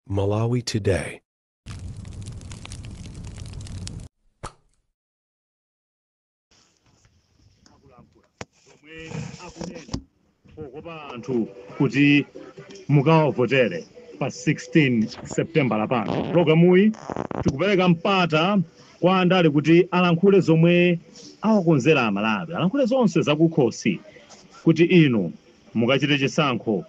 Malawi Today. omwe akunena pokopa anthu kuti mukawavotere pa 16 septembala lapano pulogalamuyi tikupereka mpata kwa andale kuti alankhule zomwe awakonzera amalawi alankhule zonse zakukhosi kuti inu mukachite chisankho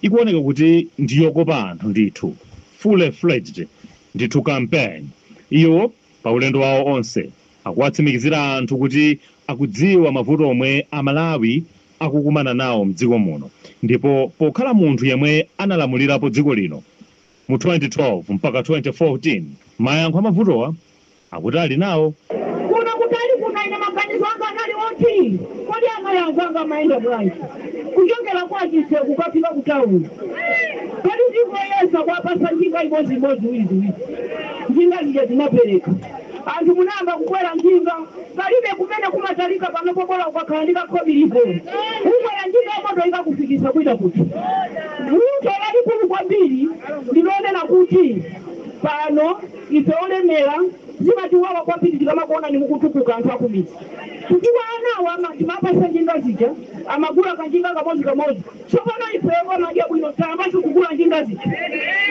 Ikuoneka kuti ndi yokopa anthu ndithu, full-fledged ndithu campaign. Iwo pa ulendo wawo onse akuwatsimikizira anthu kuti akudziwa mavuto omwe a Malawi akukumana nawo mdziko muno ndipo pokhala munthu yemwe analamulirapo dziko lino mu 2012 mpaka 2014, mayankho a mavutowa akuti ali nawo. Kuno kutali kuno ine maganizo anga anali oti kodi amayi anzanga amayenda bwanji kuchokera kwa Chitseko kukafika ku town? Kodi ndingoyesa kuwapatsa njinga imodzi imodzi ziwiri ziwiri. Njinga zija ndinapereka. Anthu munayamba kukwera njinga. Palibe kumene kumatalika panopo bola ukakhala ndi kakhobiliko. Kukwera njinga ya moto ikakufikitsa kwina kuti. Vuto lalikulu kwambiri ndi lonena kuti pano. Ife olemera zimatiwawa kwambiri tikamakuonani mukutukuka anthu akumidzi chifukwa ana awa ama timawapatsa njinga zija amagula kanjinga kamodzi kamodzi tsopano ife omadya bwino tayambanso kugula njinga zija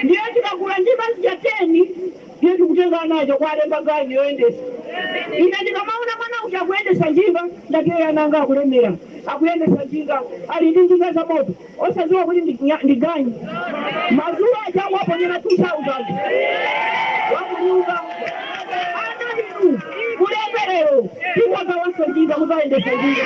ndiye tikagula njinga zija 10 ndiye tikutenga ana aja kuwalemba ganyu yoyendetsa ine ndikamaona mwana uja akuyendetsa njinga ndati eya ana anga akulemera akuyendetsa njinga ali ndi njinga zamoto osadziwa kuti ndi nya ndi ganyu madzulo aja akumuponyera 2000 wakunyumba ana inu mulekerero tikagawanso njinga muzayendesa njinga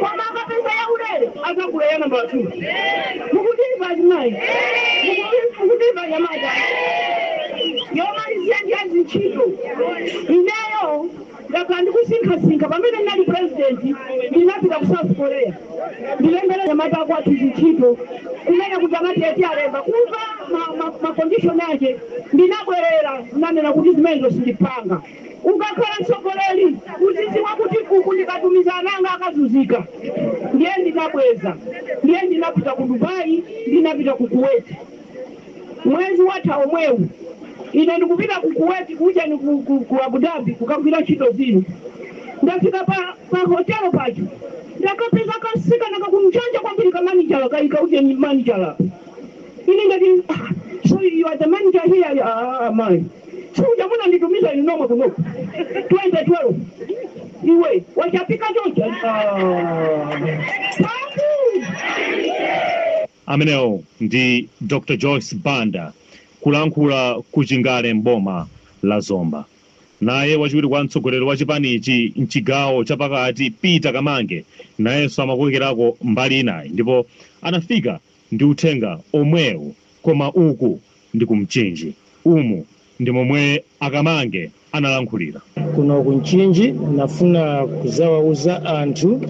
koma akapeza yaulere azagula ya namba 2 mukutimva azimayi Mukuti- mukutimva anyamata yomalizira ndi ya zintchito ineyo ndakhala ndikusinkhasinkha pamene ndinali purezidenti ndinapita ku south korea ndilembere anyamata akwathu zintchito kumene kuti amati eti alemba kumva makondishoni ake ndinabwerera ndinanena kuti zimenezo sindipanga Ukakhala mtsogoleri uziziwa kuti uku ndikatumiza ana anga akazunzika ndiye ndinabweza ndiye ndinapita ku Dubai ndinapita ku Kuwait mwezi watha omwewu ine ndikupita ku Kuwait ku ujeni ku ku Abu Dhabi kukagwira ntchito zina ndafika pa pa hotel paja ndakapeza kasikana ka ku Mjanja kwambiri ka manijala kaika ujeni manijala apa Ine ndinati, So you are the manager here? Ati, Aaa mayi, simuja munanditumiza inu nomwe kunoku 2012? Iwe wachapika chonchi? Ati, Aaa Pandu! Amenewo ndi Dr Joyce Banda kulankhula ku Chingale m'boma la Zomba. Naye wachiwiri kwa mtsogoleri wa chipanichi mchigawo cha pakati Peter Kamange nayenso amakokerako mbali inayi ndipo anafika Ndi Uthenga omwewu koma uku ndi ku Mchinji. Umu ndi momwe a Kamange analankhulira. Kuno ku Mchinji nafuna kuzawauza anthu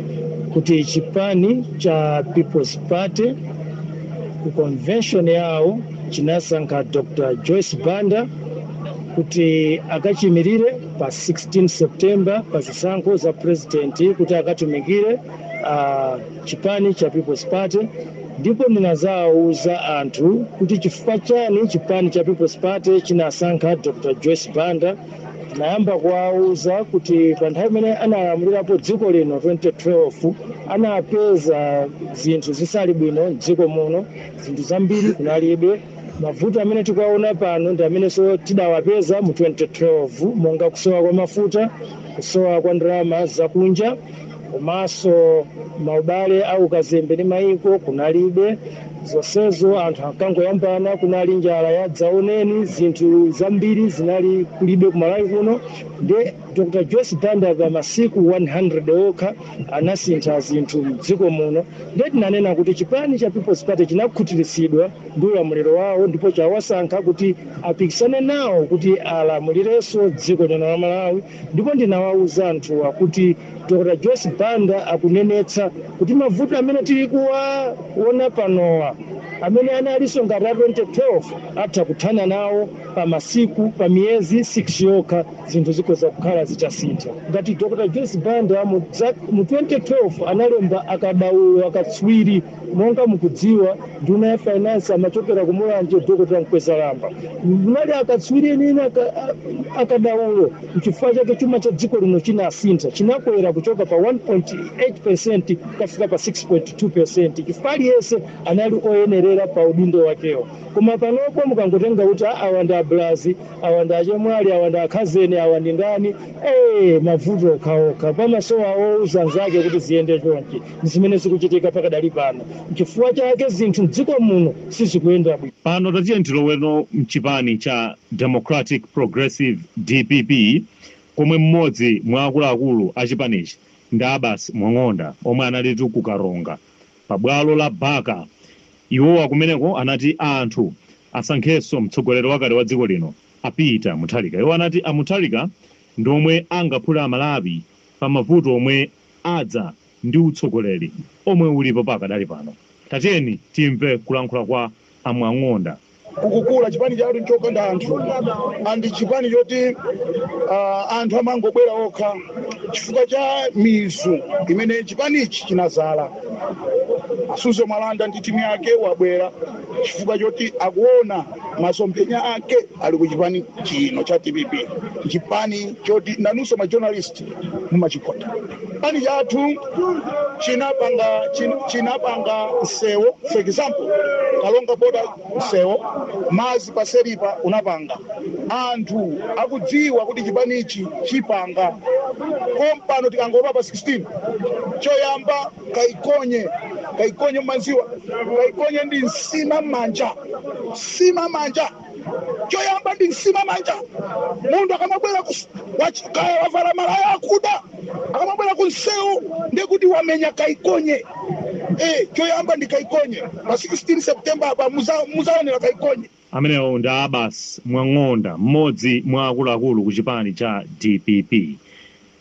kuti chipani cha People's Party ku convention yawo chinasankha Dr Joyce Banda kuti akachiyimilire pa 16 September pa zisankho za President kuti akatumikire a. chipani cha People's Party ndipo ndinazawuza anthu kuti chifukwa chani chipani cha People's Party chinasankha Dr Joyce Banda, ndinayamba kuwawuza kuti pa nthawi imene analamulirapo dziko lino 2012 anapeza zinthu zisali bwino m'dziko muno, zinthu zambiri kunalibe, mavuto amene tikuwawona pano ndi amenenso tidawapeza mu 2012 monga kusowa kwa mafuta, kusowa kwa ndalama zakunja. komanso maubale a ukazembe ndi mayiko kunalibe zonsezo anthu ankangoyambana kunali njala ya dzaoneni zinthu zambiri zinali kulibe kumalawi kuno ndiye dr joyce banda pa masiku 100 okha anasintha zinthu mdziko muno ndiye tinanena kuti chipani cha peoples party chinakhutiritsidwa ndi ulamuliro wawo ndipo chawasankha kuti apikisane nawo kuti alamulirenso dziko lino la malawi Ndipo ndinawauza anthuwa kuti Dr. Joyce Banda akunenetsa kuti mavuto amene tili kuwaona panowa, amene analinso ngati a 2012, atha kuthana nawo pa masiku, pa miyezi 6 yokha zinthu zikhoza kukhala zitasintha. Ngati Dr. Joyce Banda mu 2012 analemba akadaulo, akatswiri, Monga mukudziwa nduna ya finance amachokera ku Mulanje Dr. Mkwezalamba munali akatswiri enieni akadaulo nchifukwa chake chuma cha dziko lino chinasintha chinakwera kuchoka pa 1.8% kukafika pa 6.2% chifukwa aliyense anali oyenerera pa udindo wakewo koma panopo mukangotenga kuti a awa ndi abulazi awa ndi achemwali awa ndi akhazeni awa ndi ndani ee mavuto okhaokha pamasowa owuza nzake kuti ziyende chonchi N'zimene zikuchitika pakadali pano. N'chifukwa chake zinthu m'dziko muno sizikuyenda bwino. Pano tatiyeni tiloweno m'chipani cha Democratic Progressive, dpp, komwe m'modzi mwa akuluakulu a chipanichi ndi Abbas Mwakang'onda omwe analitu ku Karonga pa bwalo la Baka. Iwowa kumeneko anati anthu asankhenso mtsogoleri wakale wa dziko lino a Peter Mutharika. Iwo anati a Mutharika ndi omwe angaphule a Malawi. pa mavuto omwe adza ndi utsogoleri omwe ulipo pakadali pano. Tatiyeni timve kulankhula kwa a Mwang'onda. kukukula chipani chatu nchokonda anthu and chipani choti anthu amangobwera okha chifukwa cha mizu imene chipanichi chinazala Suzgo Mwalwanda ndi team yake wabwera chifukwa choti akuona masomphenya ake. ali ku chipani chino cha dpp chipani choti nanunso ma journalist mumachikota chipani chathu chinapanga chin- chinapanga msewo for example Karonga border msewo madzi pa Selipa unapanga anthu akudziwa kuti chipani ichi chipanga kompano tikangolowa pa 16 choyamba kaikonye kaikonye mumadziwa kaikonye ndi nsima mmanja nsima mmanja choyamba ndi nsima mmanja munthu akamabwera ku- wach- kaya wavala malaya akuda akamabwera ku msewu ndekuti wamenya kaikonye eh, choyamba ndi kaikonye pa 16 september apa muza- muzaonera kaikonye amenewo ndi Abbas Mwang'onda mmodzi mwa akuluakulu ku chipani cha dpp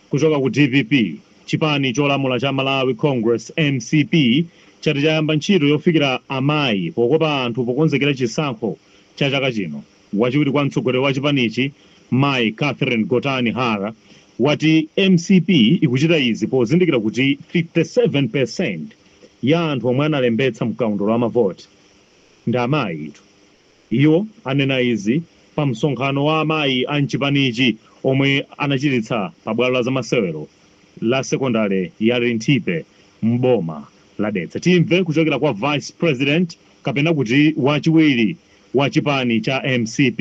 Kuchoka ku dpp, chipani cholamula cha Malawi Congress, mcp, chati chayamba ntchito yofikira amayi pokopa anthu pokonzekera chisankho cha chaka chino. Wachiwiri kwa mtsogoleri wa chipanichi mayi Catherine Gotani Hara wati mcp ikuchita izi pozindikira kuti 57 percent ya anthu omwe analembetsa mkaundula wa mavoti ndi amayi. Iwo anena izi pa msonkhano wa amayi a mchipanichi omwe anachititsa pa bwalo la zamasewero la sekondale ya Linthipe m'boma la Dedza. Timve kuchokera kwa Vice President kapena kuti wachiwiri wa chipani cha mcp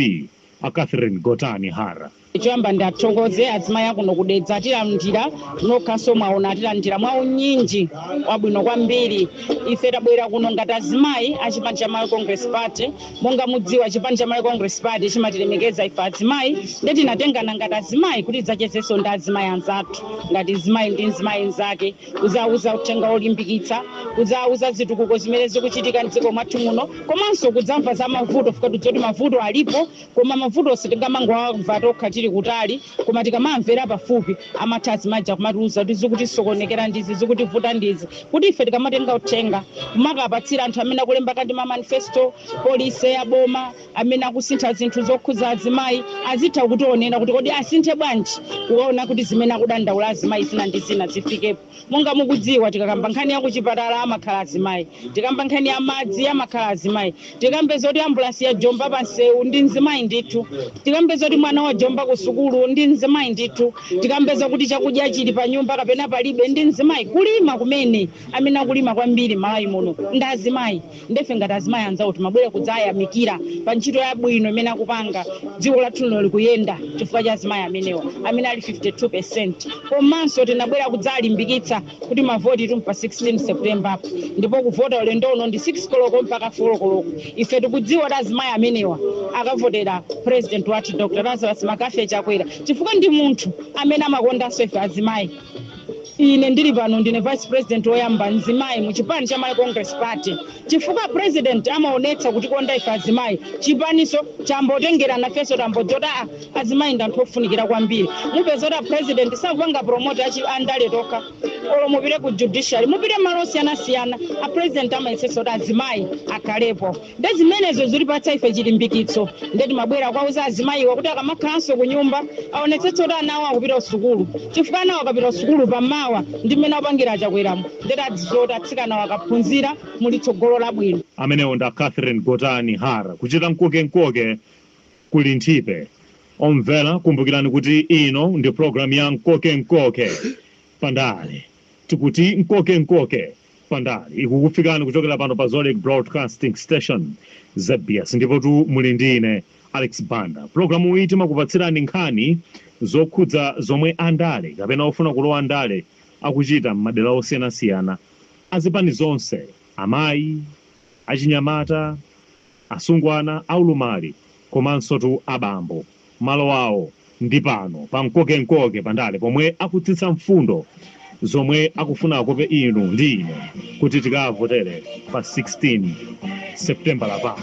a Catherine Gotani Hara. Choyamba ndiathokoze azimai akuno ku Dedza atilandira nokhanso mwaona atilandira mwa unyinji wabwino kwambiri. Ife tabwera kuno ngati azimai a chipani cha Malawi Congress Party. Monga mudziwa chipani cha Malawi Congress Party chimatilemekeza ife azimai nde tinatengana ngati azimai kuti tidzachezenso ndi azimai anzathu ngati mzimai ndi mzimai mzake kudzawauza uthenga wolimbikitsa, kudzawauza zitukuko zimene zikuchitika mdziko mwathu muno komanso kudzamva za mavuto chifukwa tikudziwa kuti mavuto alipo Koma mavuto sitingamangowamva tokha tili kutali, koma tikamawamvera pafupi, amatha azimayi aja kumatiuza kuti zikutisokonekera ndi izi, zikutivuta ndi izi. Kuti ife tikamatenga uthenga, kumakapatsira anthu amene akulemba kaya ndi ma manifesto, policy ya boma, amene akusintha zinthu zokhudza azimayi, azitha kutionera kuti kodi asinthe bwanji kuona kuti zimene akudandaula azimayi zina ndi zina zifikepo. monga mukudziwa tikakamba nkhani ya kuchipatala amakhala azimayi tikamba nkhani ya madzi amakhala azimayi tikambe zoti ambulansi yajomba pa msewu ndi mzimayi ndithu tikambe zoti mwana wajomba ku sukulu ndi mzimayi ndithu tikambe zakuti chakudya chili pa nyumba kapena palibe ndi mzimayi kulima kumene amene akulima kwambiri mmalawi muno ndi azimayi nde ife ngati azimayi anzawo timabwera kudzayamikira pa ntchito yabwino imene akupanga dziko lathu lino likuyenda chifukwa cha azimayi amenewa amene ali 52 percent komanso tinabwera kudzalimbikitsa kuti mavotitu mpa 16 september ndipo kuvota ulendo uno ndi 6 koloko mpaka 4 koloko ife tikudziwa kuti azimayi amenewa akavotera president wathu dr lazarus mccarthy chakwera chifukwa ndi munthu amene amakondanso ife azimayi ine ndili pano ndine vice president woyamba mzimayi mu chipani cha malawi congress party chifukwa a president amaonetsa kutikonda ife azimayi chipaninso chambotengera nafenso tambodziwa kuti aa azimayi ndi anthu ofunikira kwambiri mupeza kuti a president sakupanga promote andale tokha olo mupite ku judiciary mupite mmalo osiyanasiyana a president amayetsetsa kuti azimayi akhalepo Nde zimenezo zikutipatsa ife chilimbikitso nde timabwera kuwauza azimayiwa kuti akamakhalanso kunyumba aonetsetse kuti ana awo akupita kusukulu chifukwa anawa akapita kusukulu pa mawa ndi mmene akupangira a Chakweramu nde tadzadziwa kuti atsikanawa akaphunzira muli tsogolo labwino. Amenewo ndi a Catherine Gotani Hara kuchita mkokenkoke ku Linthipe. Omvera kumbukirani kuti ino ndi program ya Mkokenkoke pa ndale. Tikuti mkokenkoke. pa ndale ikukufikani kuchokera pano pa zodiak broadcasting station zbs ndipotu muli ndi ine alex banda pulogalamuyi timakupatsirani nkhani zokhudza zomwe andale kapena ofuna kulowa ndale akuchita m'madera osiyanasiyana azipani zonse amayi achinyamata asungwana aulumali komansotu abambo malo awo ndi pano pa mkokenkoke pa ndale pomwe akutsitsa mfundo zomwe akufuna akope inu ndi ine kuti tikawavotere pa 16 Seputembala pano.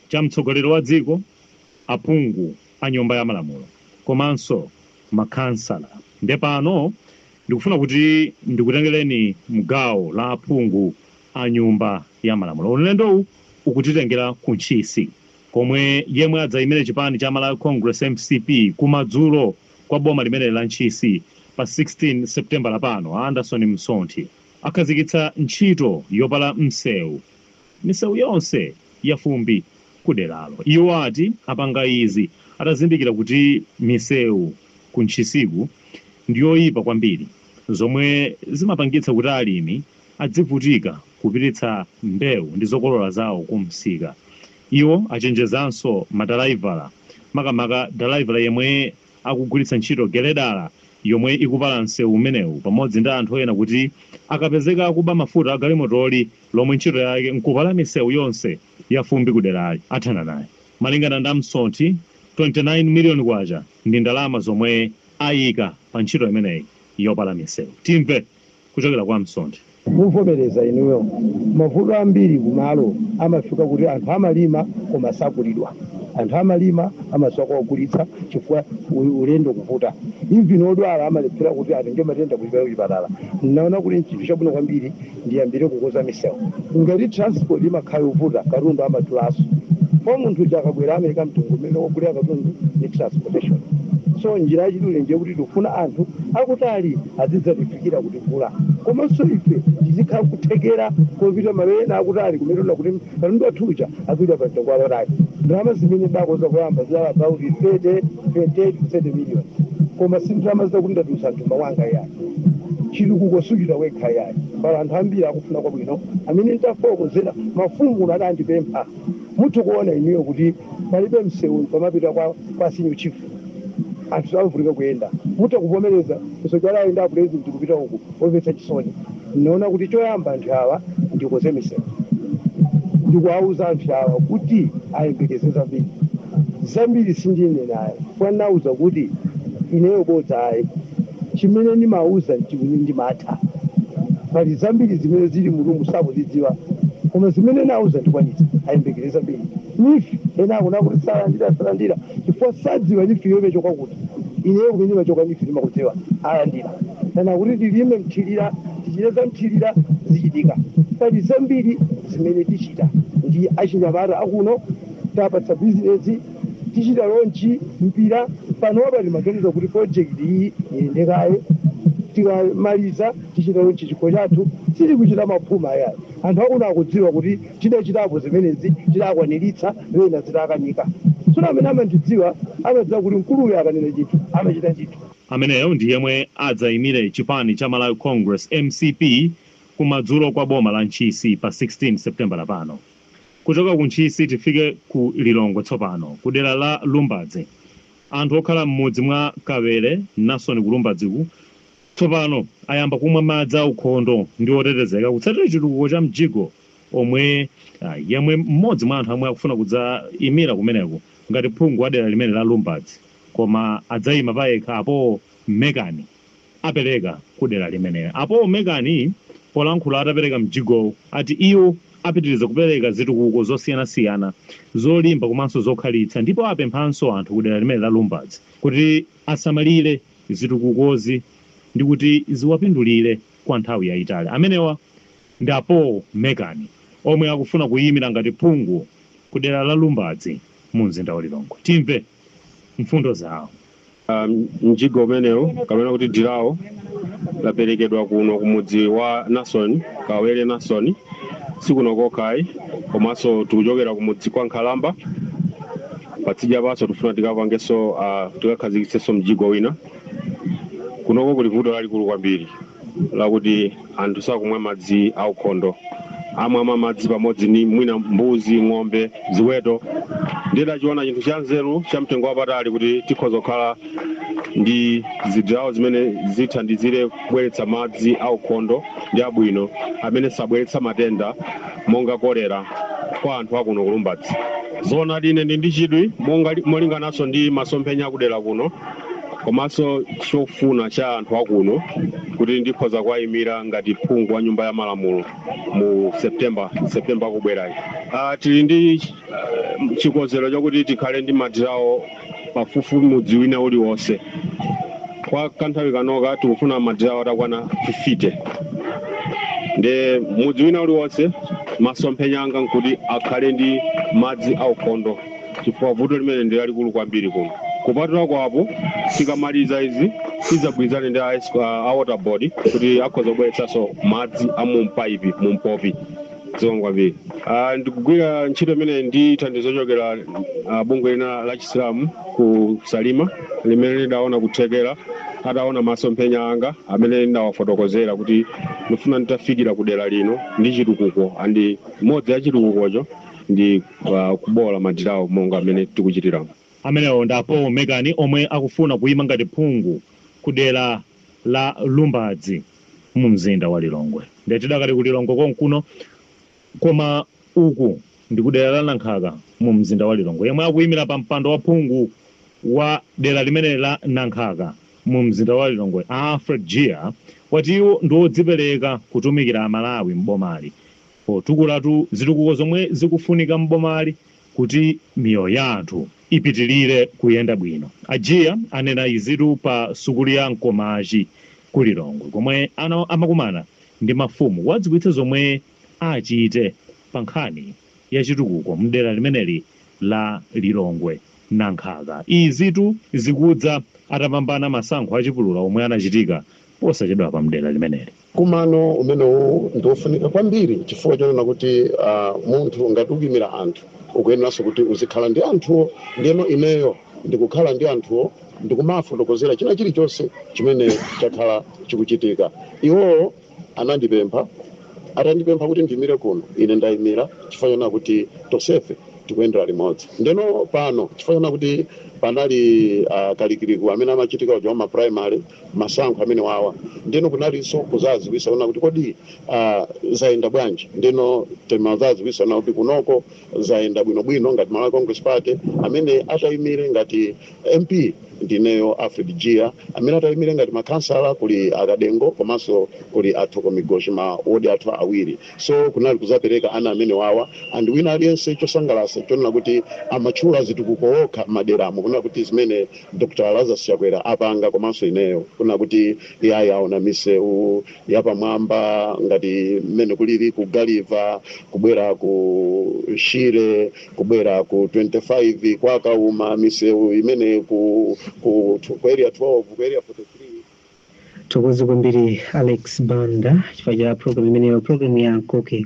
cha mtsogoleri wa dziko, aphungu a nyumba ya malamulo komanso makhansala nde pano ndikufuna kuti ndikutengeleni mgawo la aphungu a nyumba ya malamulo. Ulendowu ukutitengela ku Ntchisi komwe yemwe adzaimile chipani cha Malawi Congress, mcp, kumadzulo kwa boma limeneli la Ntchisi pa 16 Seputembala pano, a Anderson Msonthi akhazikitsa ntchito yopala msewu. misewu yonse ya fumbi ku deralo. Iwo ati apanga izi atazindikira kuti misewu ku Ntchisiku ndi yoyipa kwambiri zomwe zimapangitsa kuti alimi adzivutika kupititsa mbewu ndi zokolola zawo ku msika. Iwo achenjezanso madalaivala makamaka dalaivala yemwe akugwiritsa ntchito geledala yomwe ikupala msewu umenewu pamodzi ndi anthu ena kuti akapezeka akuba mafuta a galimotoli, lomwe ntchito yake nkupala misewu yonse ya fumbi kuderali, athana naye. Malingana ndi a Msonthi, K29 miliyoni ndi ndalama zomwe ayika pa ntchito imeneyi yopala misewu. Timve kuchokera kwa a Msonthi. Muvomereza inuyo mavuto ambiri kumalo amafika kuti anthu amalima koma sagulidwa. Anthu amalima amasowa kogulitsa chifukwa ulendo kuvuta. Even odwala amalephera kuti atenge matenda kuchipatala. Naona kuti n'chinthu chabwino kwambiri ndiyambile kukoza misewu ngati transport imakhala yovuta katundu amadulaso kwa munthu uja akabwela amaika mtengo umene wogulila katundu ndi transportation so njila yachidule ndiye kuti tikufuna anthu akutali azidzatifikila kutigula komanso ife tizikhala kuthekela kopita malo ena akutali kumene tona kuti katundu wathu uja agulidwa pa mtengo wapatali ndalama zimene ndakoza koyamba zidali about 30 28 30 million koma si ndalama zakuti ndatulutsa mthumba wanga ya Chitukuko suchita wekha yayi. Pali anthu ambiri akufuna kwabwino amene ntafokozera mafumu kuno adandipempha. Mutha kuona inuyo kuti palibe mseu pomapita kwa senior chief. Anthu amavutika kuyenda. Mutha kuvomereza kusogera ayenda a president kupita uku. Omvetsa chisoni. Naona kuti choyamba anthu awa ndikoze misewu ndikuwauza anthu awa kuti ayembekeze zambiri. Zambiri sindinena ayi chifukwa ndinawauza kuti ineyo bodza ayi. Chimene ndimawauza n'chimene ndimatha. Pali zambiri zimene zili m'mutumu sakuzidziwa koma zimene nawauza ndikwanitsa. Ayembekeze zambiri. Neef, Ena akunena kuti salandira, salandira chifukwa sadziwa neef yo imachoka kuti. Ineyo kumene imachoka neef ndimakudziwa alandira kaya kuti tilime mthirira tichite za mthirira zichitika pali zambiri zimene tichita ndi achinyamata akuno tapatsa bizinezi tichita lonchi mpira panopa timaganiza kuti project iyi iyende kaye tikamaliza tichita lonchi chikho chathu sitikuchita maphuma yayi anthu akuno akudziwa kuti Tidachitapo zimenezi, tidakwaniritsa ena zidakanika. Tsono amene amandidziwa, amadziwa kuti mkuluyo akanena chinthu, amachita chinthu. Ameneyo ndi yemwe adzaimire chipani cha Malawi Congress, mcp, kumadzulo kwa boma la Ntchisi pa 16 Sepitembala pano. Kuchoka ku Ntchisi tifike ku Lilongwe tsopano, kudera la Lumbadzi. Anthu okhala m'mudzi mwa Kawere Nasoni ku Lumbadziku tsopano ayamba kumwa madzi aukhondo ndi otetezeka kutsatira chitukuko cha mjigo. omwe a, yemwe mmodzi mwa anthu omwe akufuna kudzaimira kumeneko ngati phungu wa dera limene la Lumbadzi koma adzaima payekha a Paul Mekani apeleka ku dera limene. A Paul Mekani polankhula atapeleka mjigowu ati iwo apitiliza kupeleka zitukuko zosiyanasiyana zolimba komanso zokhalitsa ndipo apemphanso anthu ku dera limene la Lumbadzi kuti asamalire zitukukozi ndikuti ziwapindulire kwa nthawi yaitali. Amenewa ndi a Paul Mekani omwe akufuna kuyimira ngati phungu ku dera la Lumbadzi mu mzinda wa Lilongwe. Timve mfundo zawo. Mjigo umenewu kapena kuti dirawo laperekedwa kuno ku mudzi wa Nason Kawere Nason sikuno kokha ayi komanso tikuchokera ku mudzi kwa Nkhalamba patsidya panso tikufuna tikapangenso tikakhazikitsenso mjigo wina. Kunoko kuli vuto lalikulu kwambiri. lakuti anthu sakumwa madzi aukhondo amamwa madzi pamodzi ni mwina mbuzi ng'ombe ziweto ndidachiona chinthu cha nzeru cha mtengo wapatali kuti tikhoza kukhala ndi zidirawo zimene zithandizire kubweretsa madzi aukhondo ndi abwino amene sabweretsa matenda monga kolera kwa anthu akuno kulumbadzi zoonadi ine ndi ndi chidwi molingananso ndi masomphenya akudera kuno komanso chofuna cha anthu akuno kuti ndikhoza kuwayimira ngati phungu wa nyumba ya malamulo mu september september akubwerayi uh, tili ndi uh, chikonzero chakuti tikhale ndi madirawo pafupifupi mudzi wina uliwonse kwa kanthawi kanoka tikufuna madirawo atakwana 50 nde mudzi wina uliwonse masomphenya anga nkuti akhale ndi madzi aukhondo chifukwa vuto limene ndi lalikulu kwambiri kuno. Kupatula kwa apo, tikamaliza izi tidzagwirizane ndi a, S- a a water board kuti akhoza kubweretsanso madzi a mu mpaipi mu mpopi zikomo kwambiri. Ah, Ndikugwira ntchito imeneyi ndi thandizo lochokera ah, bungwe lina la Chisilamu ku Salima limene lidaona kuthekera adaona masomphenya anga amene ndidawafotokozera kuti ndifuna nditafikira ku dera lino ndi chitukuko and imodzi ya chitukukocho ndi uh, kuboola madirawo monga amene tikuchitiramu amenewo ndi a paul mekani omwe akufuna kuima ngati phungu ku dera la lumbadzi mu mzinda wa lilongwe ndiye tidakali ku lilongwe konkuno koma uku ndi ku dera la nankhaka mu mzinda wa lilongwe yemwe akuimira pa mpando wa phungu wa dera limene la nankhaka mu mzinda wa lilongwe a alfred jiya wati iwo ndi odzipereka kutumikira amalawi m'bomali potukulatu zitukuko zomwe zikufunika m'bomali kuti miyoyo ya anthu ipitilire kuyenda bwino. A Jiya anena izitu pa sukulu ya Nkomachi ku Lilongwe komwe ana, amakumana ndi mafumu kuwadziwitsa zomwe achite pa nkhani ya chitukuko m'dera limeneli la Lilongwe Nankhaka. Izitu zikudza atapambana masankho achipulula omwe anachitika posachedwapa m'dera limeneli. Mkumano umenewu ndi wofunika kwambiri chifukwa chonena kuti munthu ngati ukuyimira anthu ukuyeneranso kuti uzikhala ndi anthuwo ndiyeno ineyo ndikukhala ndi anthuwo ndikumafotokozera china chilichonse chimene chakhala chikuchitika. Iwowo anandipempha. Atandipempha kuti ndiyimire kuno, ine ndayimira chifukwa chonena kuti tonsefe tikuyendera limodzi. Ndiyeno pano chifukwa chonena kuti panali kalikiliki amene amachitika uja wa mapurayimale. masankho amene awawa ndeno kunalinso kuzaziwisa kunena kuti kodi ah, zayenda bwanji ndeno timazaziwisa kunena kuti kunoko zayenda bwinobwino ngati malawi congress party amene atayimire ngati mp ndineyo alfred jiya amene atayimire ngati makhansala kuli a kadengo komanso kuli a thoko migoshi ma wodi athu awiri so kunali kuzapereka ana amene awawa and wina aliyense chosangalasa chonena kuti amatchula zitukuko okha m'maderamo kunena kuti zimene Dr Lazarus Chakwera apanga komanso ineyo kunena kuti iyayi aona misewu yapamwamba ngati mmene kulili ku Gulliver kubwera ku Shire kubwera ku 25 kwa Kauma misewu imene ku, ku, ku area 12 ku area 43 Tithokoze kwambiri Alex Banda chifukwa cha program imeneyo program ya Koke.